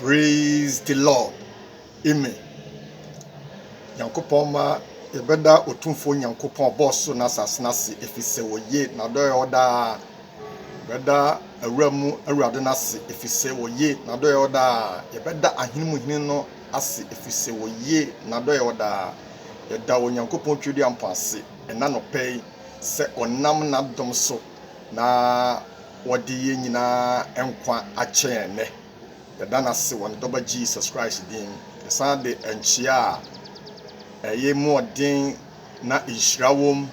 Praise the Lord amen Nyankopɔn ma yɛbɛda Otumfoɔ Nyankopɔn a ɔbɔɔ soro ne asase no ase efisɛ ɔye, n'adɔeɛ wɔ hɔ daa. Yɛbɛda Awura mu Awurade no ase efisɛ ɔye, n'adɔeɛ wɔ daa. Yɛbɛda Ahene mu Hene no ase efisɛ ɔye, n'adɔeɛ wɔ daa. Yɛda Onyankopɔn Twereduampɔn ase ɛna nɔpɛ yi sɛ ɔnam n'adom so na wɔde yɛn nyinaa nkwa akyɛ yɛn nnɛ. Yɛda no ase wɔ ne Dɔba Jesus Christ din mu. Yɛsan de nkyea a ɛyɛ mu ɔden na nhyira wom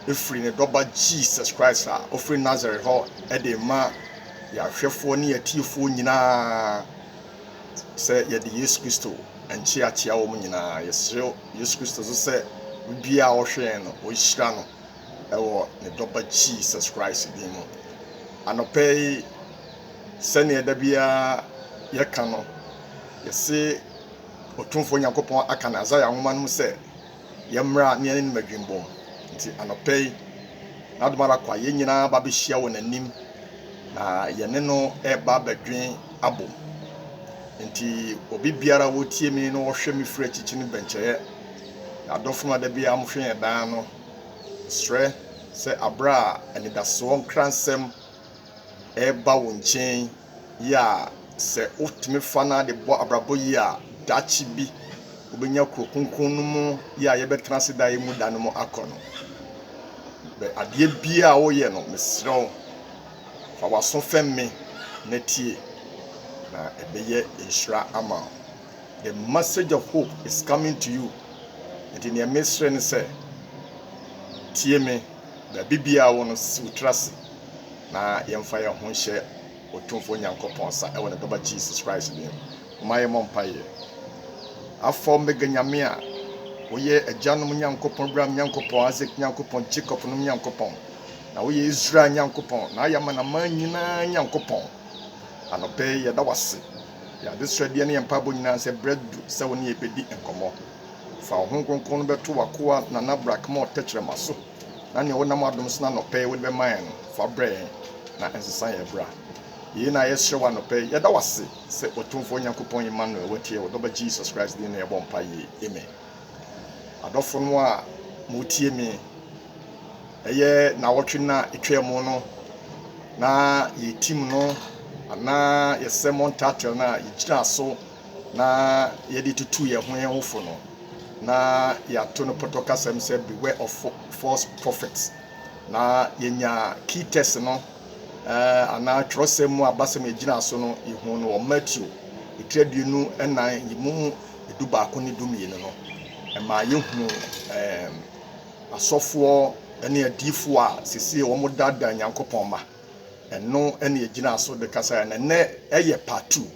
firi ne Dɔba Jesus Christ a ɔfiri Nasaret hɔ de rema yɛn ahwɛfoɔ ne yɛn atiefoɔ nyinaa sɛ yɛde Yesu Kristo nkyea kyea wɔn nyinaa. Yɛsrɛ Yesu Kristo nso sɛ obiara a ɔhwɛ yɛn no, ɔnhyira no. wɔ ne Dɔba Jesus Christ din mu. Anɔpa yi, sɛdeɛ da biara yɛka no, yɛse Otumfoɔ Nyankopɔn aka no Isaiah nwoma no mu sɛ, yɛmmra ne yɛne no madwimbɔm. Nti anɔpa yi, n'adom ara kwa, yɛn nyinaa ba bɛhyia wɔ n'anim na yɛne no ɛba bɛdwen abom. Nti obi biara wɔtie me na wɔhwɛ me firi akyikyi no bɛnkyɛeɛ. Adɔfo no a da biara mohwɛ yɛn daa no, Mesrɛ sɛ aberɛ a anidasoɔ nkransɛm reba wo nkyen yi a, sɛ wotumi fa no ara de bɔ abrabɔ yie a, daakye bi wobɛnya kuro kronkron no mu yi a yɛbɛtena ase daa yi mu da no mu akɔ no. Bɛ adeɛ biara a woyɛ no, mesrɛ wo, fa w'aso fɛm me na tie, na ɛbɛyɛ nhyira ama wo. The message of hope is coming to you Enti neɛ mesrɛ ne sɛ tie me Baabi biaa wɔ no si wo tiri ase na yɛmfa yɛn ho nhyɛ Otumfoɔ Nyankopɔn nsa ɛwɔ ne Ba ba Jesus Christ din mu Momma yɛmmɔ mpaeɛ Alpha Omega Nyame a woyɛ agyanom Nyankopɔn Abraham Nyankopɔn Isaac Nyankopɔn Jacob nom Nyankopɔn Na woyɛ Israel Nyankopɔn Na woyɛ amanaman nyinaa Nyankopɔn Anɔpɛ yi yɛda wo ase Yɛn adesrɛdeɛ ne yɛn mpaebɔ nyinaa ne sɛ berɛ adu sɛ wo ne yɛn bɛdi nkɔmmɔ. Fa wo Honhom Kronkron no bɛto w'akoa Nana Brackmore tɛkyerɛma so na nea wonam w'adom so no anɔpa yi wode bɛma yɛn no fa brɛ yɛn na nsesa yɛn bra. Yei na yɛsrɛ wo anɔpa yi. Yɛda wo ase sɛ Otumfoɔ Nyankopɔn Emmanuel watie yɛn wɔ Dɔba Jesus Christ din mu na yɛbɔ mpaeɛ yi. Amen. Adɔfonom a moretie me, ɛyɛ naawɔtwe no a ɛtwaam no na yɛn team no anaa yɛn sermon title no a yɛgyinaa so na yɛde tutuu yɛn ho yɛn ho fo no, na yɛato no pɔtɔ kasam sɛ Beware of False Prophets. Na yɛnya key text no eh, anaa twerɛsɛm mu abasɛm a yɛgyinaa so no, yɛhuu no wɔ Matthew etiri aduonu nnan yi mu. dubaako ne dumienu no, ɛmaa yɛhuu asɔfoɔ ne adiyifoɔ a seesei wɔdaadaa Nyankopɔn mma. Ɛno na yɛgyinaa so de kasaeɛ, na nnɛ ɛyɛ part two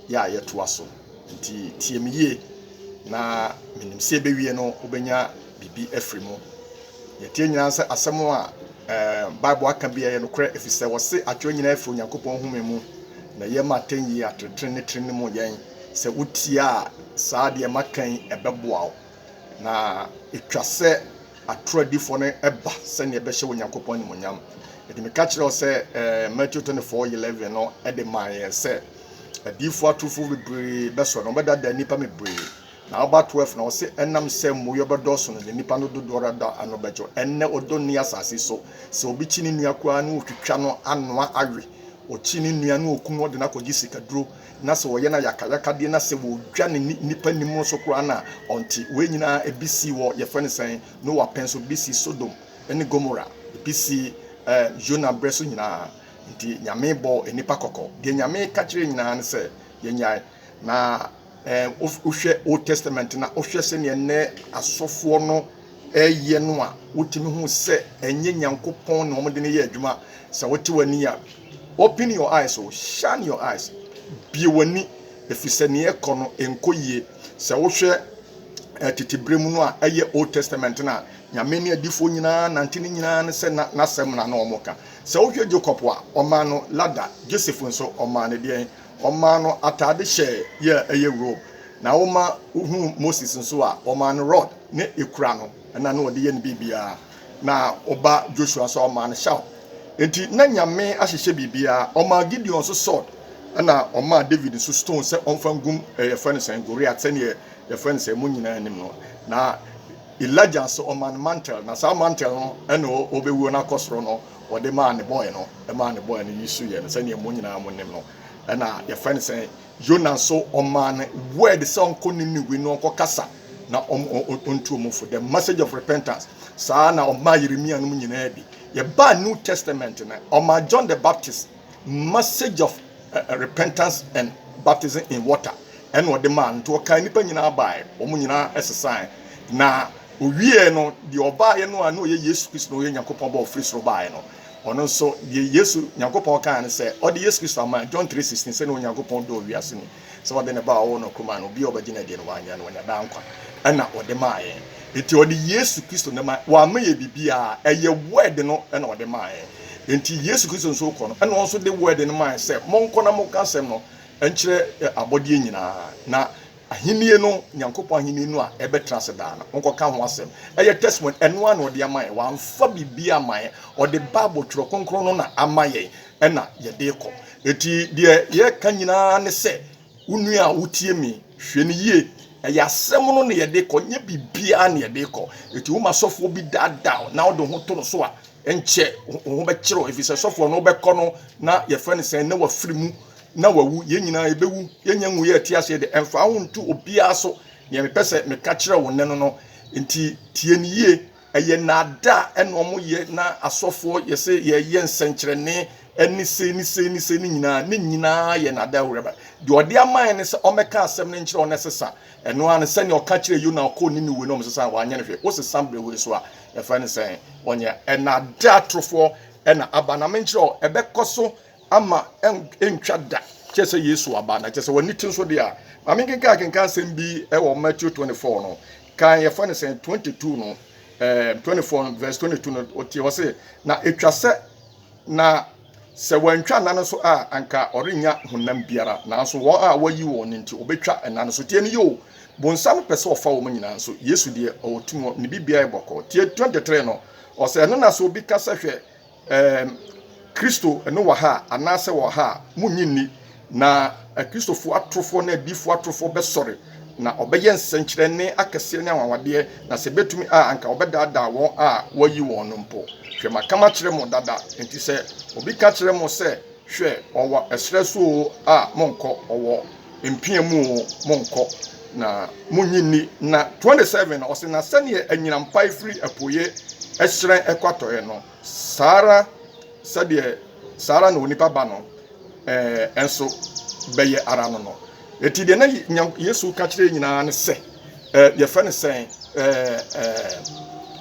yɛ a yɛtoa so. Nti tie me yie, na menim sɛ ɛbɛwie no wobɛnya biribi afiri mu. Yɛteɛ nyinaa sɛ asɛm a Bible aka bi ɛyɛ nokorɛ, ɛfiri sɛ wɔse atwerɛ nyinaa firi Onyankopɔn home mu, na ɛyɛ ma atɛnyie, atenetene ne trenemu yɛn. Sɛ wotie a, saa deɛ maka yi ɛbɛboa wo. Na ɛtwa sɛ atoro adifoɔ no ba sɛdeɛ ɛbɛhyɛ Onyankopɔn animuonyam. Ɛde meka kyerɛ wo sɛ eh, Matthew 24 11 no ɛde maa yɛn sɛ adiyifoɔ atorofoɔ bebree bɛsɔ no wɔbɛdada nnipa bebree na aba 12 na ɔse ɛnam sɛ mmuiɛ bɛdɔɔso no de nnipa no dodoɔ dada ano bɛgye ɛnnɛ ɔdɔ nni asase so sɛ obi kyi ne nua koraa ne ɔtwitwa no anoa awe ɔkyi ne nua ne ɔku no ɔde no akɔgye sikaduro Na sɛ ɔyɛ no ayakayakadeɛ na sɛ wɔdwa no nnipa nim nso koraa no a, ɔnte. Wei nyinaa ebi sii wɔ, yɛfrɛ no sɛn, Noa pɛn so, ebi sii Sodom ne Gomora, ebi sii ɛɛ Yona berɛ so nyinaa. Nti Nyame bɔɔ nnipa kɔkɔ. Deɛ Nyame ka kyerɛ yɛn nyinaa ne sɛ yɛnyae. Na ɛɛ wohwɛ Old Testament na wohwɛ sɛdeɛ nnɛ asɔfoɔ no. reyɛ no a, wotumi hu sɛ ɛnyɛ Nyankopɔn na wɔde no yɛ adwuma. Sɛ wote w'ani a, open your eyes o, shine your eyes, bue w'ani, ɛfiri sɛ nea ɛkɔ no ɛnkɔ yie. Sɛ wohwɛ eh, tete berɛ mu no a ɛyɛ Old Testament no a, Nyame ne adifoɔ nyinaa nante ne nyinaa no sɛ na n'asɛm na na wɔka. Sɛ wohwɛ Jacob a, ɔmaa no lada, Joseph nso ɔmaa no deɛn? Wɔmaa no atade hyɛ yɛ a ɛyɛ rob, na woma wohuu Moses nso a, wɔmaa no rod ne ekura no, ɛna na ɔde yɛ ne biribiara, na wo ba Joshua nso a wɔmaa no shawl. Enti na Nyame ahyehyɛ biribiara. Wɔmaa Gideon nso sword, ɛna wɔmaa David nso stone sɛ ɔmfa ngum ɛɛ yɛfrɛ no sɛn, Goliath, sɛdeɛ yɛfrɛ no sɛn, mo nyinaa nim no. Na Elijah nso wɔmaa no mantle, na saa mantle no ɛna ɔbɛwuo no akɔ soro no. Wɔde maa ne bɔe no, ɛmaa ne bɔe no yi so yɛ no sɛdeɛ mo nyinaa mo nim no. Ɛna yɛfrɛ no sɛn? Yona nso ɔmaa no word sɛ ɔnkɔ Niniwe na ɔnkɔ kasa na ɔntu wɔn fo, the message of repentance. Saa na ɔmaa Yeremia nom nyinaa bi. Yɛbaa New Testament no, ɔmaa John the Baptist. message of repentance and baptism in water ɛna ɔde maa nti ɔkaa nnipa nyinaa baeɛ wɔn nyinaa ɛsesaeɛ na owieɛ no deɛ ɔbaeɛ no a na ɔyɛ yesu kristo na ɔyɛ nyankopɔn ba ɔfiri soro baeɛ no ɔno nso deɛ yesu nyankopɔn kaa no sɛ ɔde yesu kristo ama john 3:16 sɛdeɛ onyankopɔn dɔɔ wiase no sɛ ɔde ne Ba a ɔwɔ no koro maa no, obiara a ɔbɛgye no adie no, wanyera na wanya daa nkwa, ɛna ɔde maa yɛn. Enti ɔde Yesu Kristo na ɛma, wamma yɛn biribiara, ɛyɛ Word no na ɔde maa yɛn. Enti Yesu Kristo nso kɔ no, ɛna ɔno nso de Word no maa yɛn sɛ, monkɔ na monka asɛm no nkyerɛ abɔdeɛ nyinaa, na Ahennie no, Nyankopɔn Ahennie no a ɛbɛtena ase daa no, monkɔka ho asɛm. Ɛyɛ testimony, ɛno ara na ɔde ama yɛn, wamfa biribiara amma yɛn, ɔde Bible, Twerɛ Kronkron no na ama yɛn. na yɛde rekɔ. Enti deɛ yɛreka nyinaa ne sɛ, wo nua a wotie me, hwɛ no yie. Ɛyɛ asɛm no na yɛde rekɔ, nyɛ biribiara na yɛde rekɔ. Enti woma sɔfoɔ bi daadaa wo na wode wo ho to no so a, ɛnkyɛ wo ho bɛkyere wo, ɛfiri sɛ sɔfoɔ no wobɛkɔ no na yɛfrɛ no sɛn, na wafiri mu na wawu. Yɛn nyinaa yɛbɛwu, yɛnnya nwu yɛn te aseɛ deɛ. Ɛmfa wo ho nto obiara so. Deɛ mepɛ sɛ meka kyerɛ wo nnɛ no no, enti tie no yie. ɛyɛ naadaa ɛna ɔmo yɛ na asɔfoɔ yɛ sɛ yɛyɛ nsɛnkyerɛnne ɛne sei ne sei ne sei ne nyinaa ne nyinaa yɛ naadaa awuraba deɛ ɔde ama yɛn ne sɛ ɔmɛka asɛm ne nkyerɛ ɔne sesa ɛno ano sɛnea ɔka kyerɛ yona ɔkɔ ne ne wei na ɔmo sesa wanyɛ ne hwɛ wosesa mbrɛ wei so a yɛfrɛ ne sɛn ɔnyɛ ɛnaadaa torofoɔ ɛna aba na menkyerɛ ɔ ɛbɛkɔ so ama ɛntwa da kyɛ sɛ yesu aba na kyɛ sɛ wɔne ti nso deɛ a ma menkenkan kenkan asɛm bi wɔ matthew 24 no kan yɛfrɛ no sɛn 22 no eh, 24 verse 22 no ɔtie hɔ se na ɛtwa sɛ na sɛ wɔantwa nna no so a anka ɔrenya honam biara nanso wɔn a wɔyi wɔn no nti ɔbɛtwa nna no so tie no yɛ o bonsam pɛ sɛ ɔfa wɔn nyinaa nso yesu deɛ ɔwɔ tumi ne biribiara yɛ bɔkɔɔ tie 23 no ɔsɛ ɛno na sɛ obi ka sɛ hwɛ Ɛɛm, Kristo no wɔ ha a, anaasɛ wɔ ha a, munnye nni. Na Akristofo atorofoɔ ne adiyifoɔ atorofoɔ bɛsɔre, na wɔbɛyɛ nsɛnkyerɛnne akɛseɛ ne anwanwadeɛ, na sɛ ɛbɛtumi a, anka wɔbɛdaadaa wɔn a wɔayi wɔn no mpo. Hwɛ, maka makyerɛ mo dada. Enti sɛ obi ka kyerɛ mo sɛ, 'Hwɛ, ɔwɔ ɛserɛ so oo, a, monnkɔ, ɔwɔ. mpia mu o, monkɔ, na monnye nni. Na 27 no, ɔse, Na sɛdeɛ anyinam pae firi apueeɛ hyerɛn kɔ atɔeɛ no, saa ara sɛdeɛ saa ara na onipa ba no nso bɛyɛ ara no no. Enti deɛ na Yesu reka kyerɛ nyinaa ne sɛ, Eh, yɛfrɛ no sɛn? Eh, eh,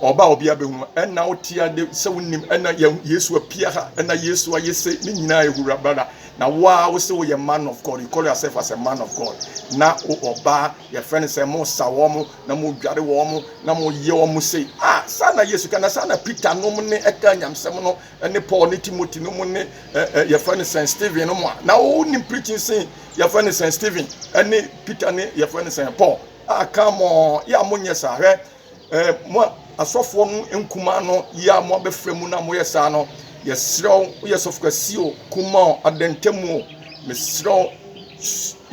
ɔba a ɔbea bɛhu, ɛna wote ade sɛ wonim, ɛna Yesu apia ha, ɛna Yesu ayɛ se, ne nyinaa ehura brada, na wo a wo se woyɛ man of God, you call yourself as a man of God, na wo ɔbaa, yɛfrɛ no sɛn, mo sa wɔn, na mo dware wɔn, na mo yɛ wɔn sei, ah, saa na Yesu ka, na saa na Peter nom ne ɛka nyamsɛm no, ne Paul ne Timothy no mu ne ɛ yɛfrɛ no sɛn Stephen no mu a na wonim preaching sen yɛfrɛ no sɛn Stephen ne Peter ne yɛfrɛ no sɛn Paul a kan mɔ yɛ a monyɛ saa hwɛ ɛ mo a asɔfoɔ no nkumaa no yɛ a mo abɛfrɛ mu na moyɛ saa no yɛserɛw woyɛ sɔfokasi o kuma o adantamu o meserɛw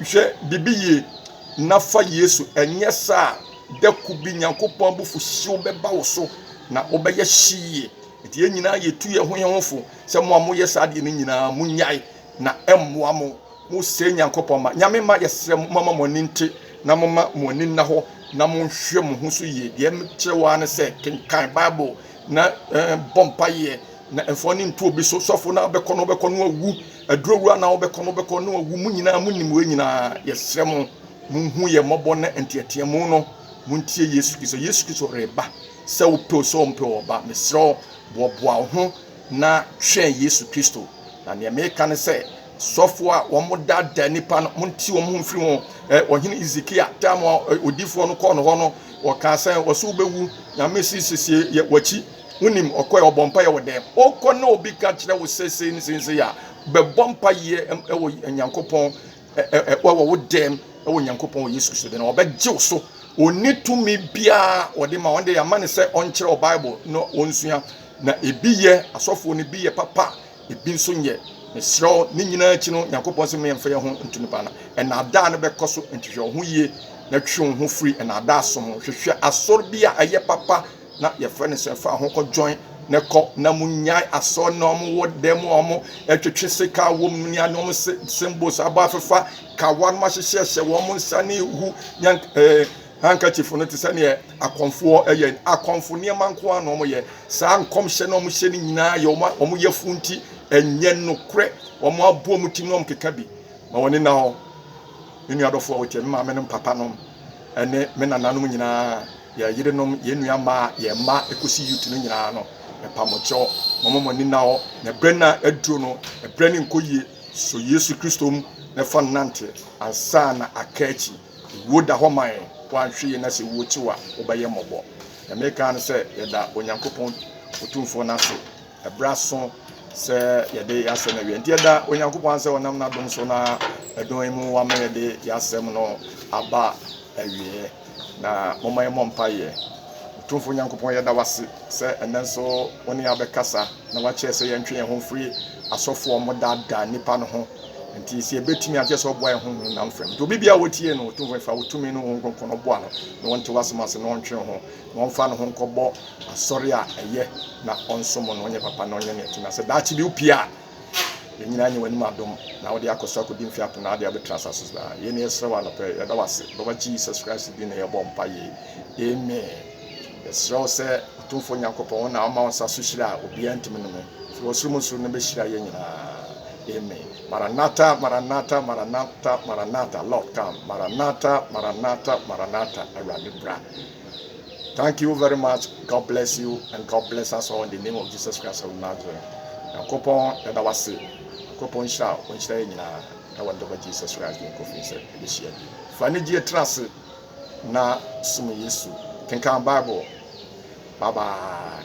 hwɛ bibi yie na fa Yesu ɛnyɛ saa dako bi Nyankopɔn abufuhyew bɛba wo so na wobɛyɛ hyie Enti yɛn nyinaa yɛtu yɛn ho yɛn ho fo sɛ mo a moyɛ saa deɛ no nyinaa monyae na ɛmmoa mo. Mosɛe Nyankopɔn ma. Nyame mma yɛsrɛ mo momma mo ani nte na momma mo ani nna hɔ na monhwɛ mo ho so yie. Deɛ mekyerɛ wo ara ne sɛ kenkan Bible na bɔ mpaeɛ na mfa w'ani nto obi so. Sɔfo no a wobɛkɔ no wobɛkɔ no awu, adurowura no a wobɛkɔ no wobɛkɔ no awu. Mo nyinaa monim wei nyinaa. Yɛsrɛ mo monhu yɛn mmɔbɔ na nteateamu no montie Yesu Kristo. Yesu Kristo reba. Sɛ wopɛ o sɛ wompɛ o, ɔba, mesrɛ wo, boaboa wo ho na twɛn Yesu Kristo. Na nea meka ne sɛ, sɔfo a wɔdaadaa nnipa no, monte wɔn ho mfiri ho. Ɛ, ɔhene Hezekia, tam a odifoɔ no kɔɔ no hɔ no, ɔkaa sɛ, ɔse wobɛwu, Nyame se siesie yɛ wakyi. Wonim, ɔkɔɛ, ɔbɔ mpaeɛ wɔ dɛm. Wokɔ na obi ka kyerɛ wo sɛ sei ne sei ne sei a, bɛbɔ mpaeɛ wɔ Nyankopɔn wɔ wo dɛm wɔ Nyankopɔn wɔ Yesu Kristo de na wɔbɛgye wo so ɔni tumi biara wɔde ma wɔn de ama ne sɛ ɔnkyerɛ wɔ Bible na wɔnsua na ebi yɛ asɔfoɔ no bi yɛ papa ebi nso nyɛ mesrɛ wo ne nyinaa akyi no Nyankopɔn sɛ mmea mfa yɛ ho nto nipa na ɛnaadaa no bɛkɔ so ntwehwɛ wo ho yie na twe wo ho firi ɛnaadaa som ho hwehwɛ asɔre bi a ɛyɛ papa na yɛfrɛ no sɛ fa ho kɔ join ne kɔ na mu nyae asɔ na ɔmo wɔ dan mu a ɔmo ɛtwetwe sika wɔ mu ne ano ɔmo symbols abɔ afefa kawa no ahyehyɛ hyɛ wɔn nsa ne hu yan ɛɛ handkerchief no te sɛ neɛ akɔmfoɔ ɛyɛ akɔmfo nneɛma nko ara na ɔmo yɛ saa nkɔmhyɛ na ɔmo hyɛ no nyinaa yɛ ɔmo ɔmo yɛ fun ti ɛnyɛ nokorɛ ɔmo abɔ ɔmo ti na ɔmo keka bi ma wɔn ne na hɔ me nua dɔfoɔ wɔkyɛ me maame nom papa nom ɛne me nananom nyinaa Yɛn yerenom, yɛn nua mmaa, yɛn mma ɛkɔsi youth no nyinaa no, mepa mo kyɛw, momma mo ani nna hɔ, na ɛberɛ no a aduro no, ɛberɛ no nkɔ yie, sɔ Yesu Kristo mu na fa no nante ansa na aka akyi. Ewuo da hɔ ma yɛn, woanhwe yie na sɛ ewuo kye wo a, wobɛyɛ mmɔbɔ. Deɛ mereka ara ne sɛ yɛda Onyankopɔn Otumfoɔ no ase. Ɛbra so sɛ yɛde yɛn asɛm awie. Nti ɛda Onyankopɔn sɛ ɔnam n'adom so na ɛdɔn mu wama yɛde yɛn asɛm no aba awie. Na moma yɛmmɔ mpaeɛ. Tumfo Nyankopɔn yɛda wase sɛ ɛnɛ nso wo ne abɛkasa na wakyerɛ sɛ yɛntwe yɛn ho mfiri asɔfoɔ mo daadaa nnipa no ho. Nti sɛ yɛbɛtumi akyɛ sɛ ɔboa yɛn ho honam fam. Nti obi biara wɔtie no, ɔtumfo fa wo tumi no wo nkronkron no boa no na ɔnte w'asɛm ase na ɔntwe ho. Wɔmfa no ho nkɔbɔ asɔre a ɛyɛ na ɔnsom no, ɔnyɛ papa na ɔnyɛ nea ɛte. Na sɛ daakye bi wopue a, yɛn nyinaa nya w'anim adom, na wode akɔ so akodi mfe apem, na ade a wobɛtra asase so daa. Yei na yɛsrɛ wo anɔpa yi. Yɛda wo ase. Wɔ Awuraba Jesus Christ din na yɛbɔ mpaeɛ. Amen. Yɛsrɛ wo sɛ, Otumfoɔ Nyankopɔn, wo na woma wo nsa so hyira a obiara ntumi nnome. Firi ɔsoro mu nso no bɛhyira yɛn nyinaa. Amen. Maranatha, Maranatha, Maranatha, Maranatha, Lord come. Maranatha, Maranatha, Maranatha, Awurade bra. Thank you very much God bless you and God bless us all in the name of Jesus Christ of Nazareth Nyankopɔn yɛda wase Nyankopɔn nhyira a ɔnhyira yɛ nyinaa ɛwɔ ne dɔba Jesus Christ din kɔfiri sɛ ɛbɛhyia bi fa ne gyeɛ tra ase na som Yesu kenkan Bible bye bye